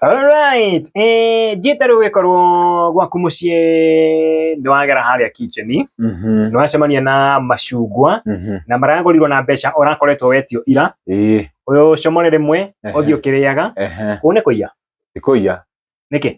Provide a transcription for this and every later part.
Alright, eh, Jita rĩu gĩkorwo gwaku mũciĩ nĩ wagera harĩa kitchen nĩ Mhm. wacemania na macungwa Mhm. na maragũrirwo na mbeca ũrakoretwo wetio ira Ĩĩ. ũyũ comore rĩmwe Ehe. ũthiĩ ũkĩrĩaga Ehe. kũu nĩ kũiya Ndikũiya. nĩkĩ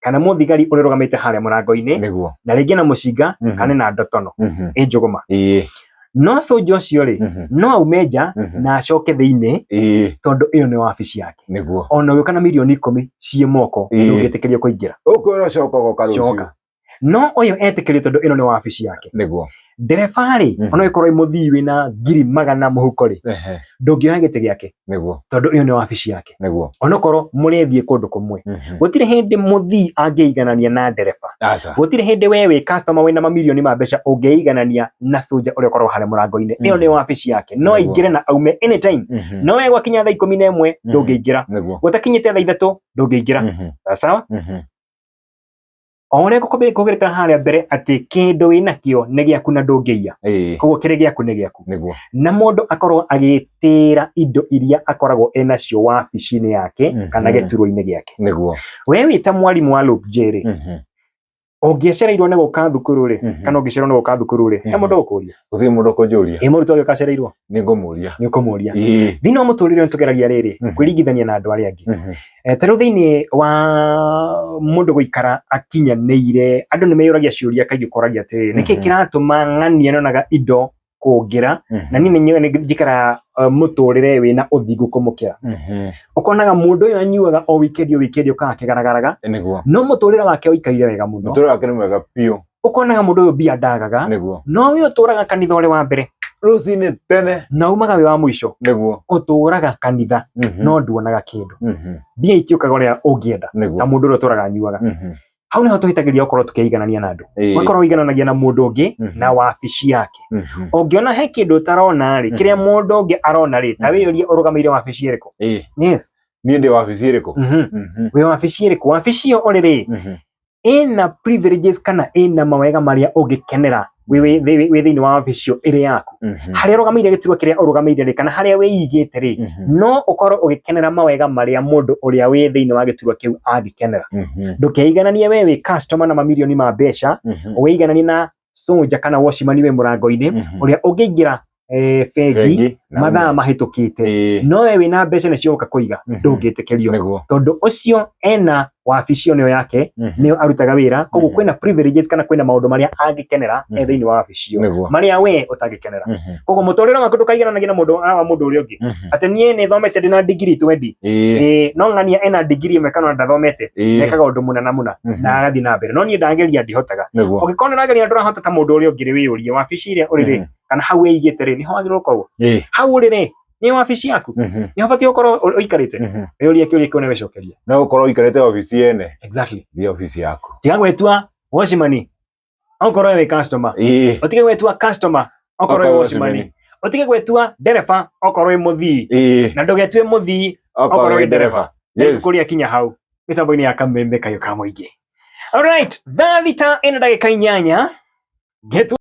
kana mũthigari ũrĩrũgamĩte harĩa mũrango-inĩ nĩguo na rĩngĩ na mũcinga Mhm. kana na ndotono Mhm. ĩ njũgũma ĩĩ no soldier ũcio rĩ Mhm. no aume nja Mhm. na acoke thĩinĩ ĩĩ tondũ ĩyo nĩ wabici yake nĩguo ona ũgĩũka na milioni ikũmi ciĩ moko Ĩĩ. ndũngĩtĩkĩrio kũingĩra ũkwĩrwo coka ũgoka rũciũ coka no ũyũ etĩkĩrio tondũ ĩno nĩ wabici yake nĩguo ndereba-rĩ Mhm. ona ĩkorwo mũthii wĩna ngiri magana mũhuko-rĩ Ehe, ndũngĩoya gĩtĩ gĩake nĩguo tondũ ĩyo nĩ wabici yake nĩguo onokorwo mũrethiĩ kũndũ kũmwe Mhm. gũtirĩ hĩndĩ mũthii angĩiganania na ndereba aca gũtirĩ hĩndĩ we wĩ customer wĩna mamirioni ma mbeca ũngĩiganania na soja ũrĩa ũkoragwo harĩa mũrango-inĩ ĩyo Mhm. nĩ wabici yake no Nĩguo. aingĩre na aume anytime Mhm. no we gwakinya thaa ikũmi na ĩmwe Mhm. ndũngĩingĩra nĩguo gũtakinyĩte thaa ithatũ ndũngĩingĩra Mhm. sawa Mhm. o ũrĩa ngũkũbe- ngũgerekana harĩa mbere atĩ kĩndũ wĩ nakĩo nĩ gĩaku na ndũngĩiya ĩĩ koguo kĩrĩ gĩaku nĩ gĩaku nĩguo na mũndũ akorwo agĩtĩra indo iria akoragwo enacio wabici-inĩ yake Mhm. kana gĩturwa-inĩ gĩake nĩguo we wĩ ta mwarimũ wa Luke J rĩ Mhm. ũngĩcereirwo nĩ gũka thukuru rĩ Mhm. kana ũngĩcererwo nĩ gũka thukuru rĩ he Mhm. mũndũ ũkũria gũtirĩ mũndũ kũnjũria ĩ mũrutwo ũgĩũka acereirwo nĩ ngũmũria nĩ ũkũmũria ĩĩ thĩinĩ wa mũtũrĩre nĩ tũgeragia rĩrĩ Mhm. kwĩringithania na andũ arĩa angĩ Mhm. Ta rĩu thĩinĩ wa mũndũ gũikara akinyanĩire, andũ nĩ meyũragia ciũria kaingĩ ũkoragia atĩrĩrĩ, nĩkĩ kĩratũma ng'ani yonaga indo kũngĩra na niĩ nĩ njikaraga mũtũrĩre wĩna ũthingu kũmũkĩra? Ũkonaga mũndũ ũyũ anyuaga o wikendi o wikendi okaga akĩgaragaraga, no mũtũrĩre wake ũikarire wega mũno. Mũtũrĩre wake nĩ mwega biũ. ũkonaga mũndũ ũyũ mbia ndagaga nĩguo no wĩ ũtũraga kanitha ũrĩ wa mbere rũcinĩ tene na umaga wĩ wa mũico nĩguo ũtũraga kanitha Mhm. no nduonaga kĩndũ Mhm. mbia itiũkaga ũrĩa ũngĩenda ta nĩguo mũndũ ũrĩa ũtũraga anyuaga Mhm. hau nĩho tũhĩtagĩria okorwo tũkĩiganania na andũ Ĩĩ. wakorwo ũigananagia na mũndũ ũngĩ Mhm. na wabici yake Mhm. ũngĩona he kĩndũ ũtarona rĩ Mhm. kĩrĩa mũndũ ũngĩ arona rĩ ta Mhm. wĩyũrie ũrũgamĩire wabici ĩrĩkũ Ĩĩ. yes niĩ ndĩ wabici ĩrĩkũ Mhm. Mhm. wĩ wabici ĩrĩkũ wabici ĩyo ũrĩ rĩ Mhm. ĩna privileges kana ĩna mawega marĩa ũngĩkenera wĩ wĩ- wĩ- wĩ thĩinĩ wa wabici ĩyo ĩrĩ yaku Mhm. harĩa ũrũgamĩire gĩturwa kĩrĩa ũrũgamĩire rĩ kana harĩa wĩigĩte rĩ Mhm. no ũkorwo ũgĩkenera mawega marĩa mũndũ ũrĩa wĩ thĩinĩ wa gĩturwa kĩu angĩkenera Mhm. ndũkeigananie we wĩ customer na mamirioni ma mbeca Mhm. ũigananie na soja kana washimani we mũrango-inĩ Mhm. ũrĩa ũngĩingĩra eh, bengi Bengi, na mathaa ũme- mahĩtũkĩte Ĩĩ, no we wĩna mbeca nĩcio ũka kũiga Mhm. ndũngĩtĩkĩrio nĩguo. tondũ ũcio ena wabici ĩyo nĩyo yake Mhm. nĩyo arutaga wĩra koguo Mhm. kwĩna privileges kana kwĩna maũndũ marĩa angĩkenera e Mhm. thĩinĩ wa wabici ĩyo Nĩguo. marĩa we ũtangĩkenera Mhm. koguo mũtũrĩre waku ndũkaigananagia na mũndũ wa mũndũ ũrĩa ũngĩ Mhm. atĩ niĩ nĩ thomete ndĩ na ndigiri twendi Ĩĩ, Ĩĩ, no ng'ania ena ndigiri ĩmwe kana ndathomete ĩĩ, nekaga ũndũ mũna na mũna Mhm. na agathiĩ na mbere no niĩ ndageria ndihotaga nĩguo. ũngĩkorwo nĩ ũrageria na ndũrahota ta mũndũ ũrĩa ũngĩ rĩ wĩyũrie wabici ĩrĩa ũrĩ rĩ Mhm. kana hau wĩigĩte rĩ nĩho wagĩrĩirwo gũkorwo Ĩĩ, hau ũrĩ rĩ nĩ wabici yaku mhm, nĩho batiĩ gũkorwo ũ- ũikarĩte mhm. wĩyũrie kĩũria kĩu na wĩcokerie no gũkorwo ũikarĩte obici yene exactly nĩ obici yaku tiga gwĩtua wacimani okorwo we wĩ customer ĩĩ ũtige gwetua customer okorwo wĩ Okorwo wacimani wacimani. ũtige gwetua ndereba okorwo wĩ mũthii ĩĩ na ndũgetue mũthii okorwo wĩ ndereba yes kũrĩa kinya hau mĩtambo-inĩ ya kameme kayũ ka mũingĩ alright thaa thita ĩna ndagĩka inyanya ngetu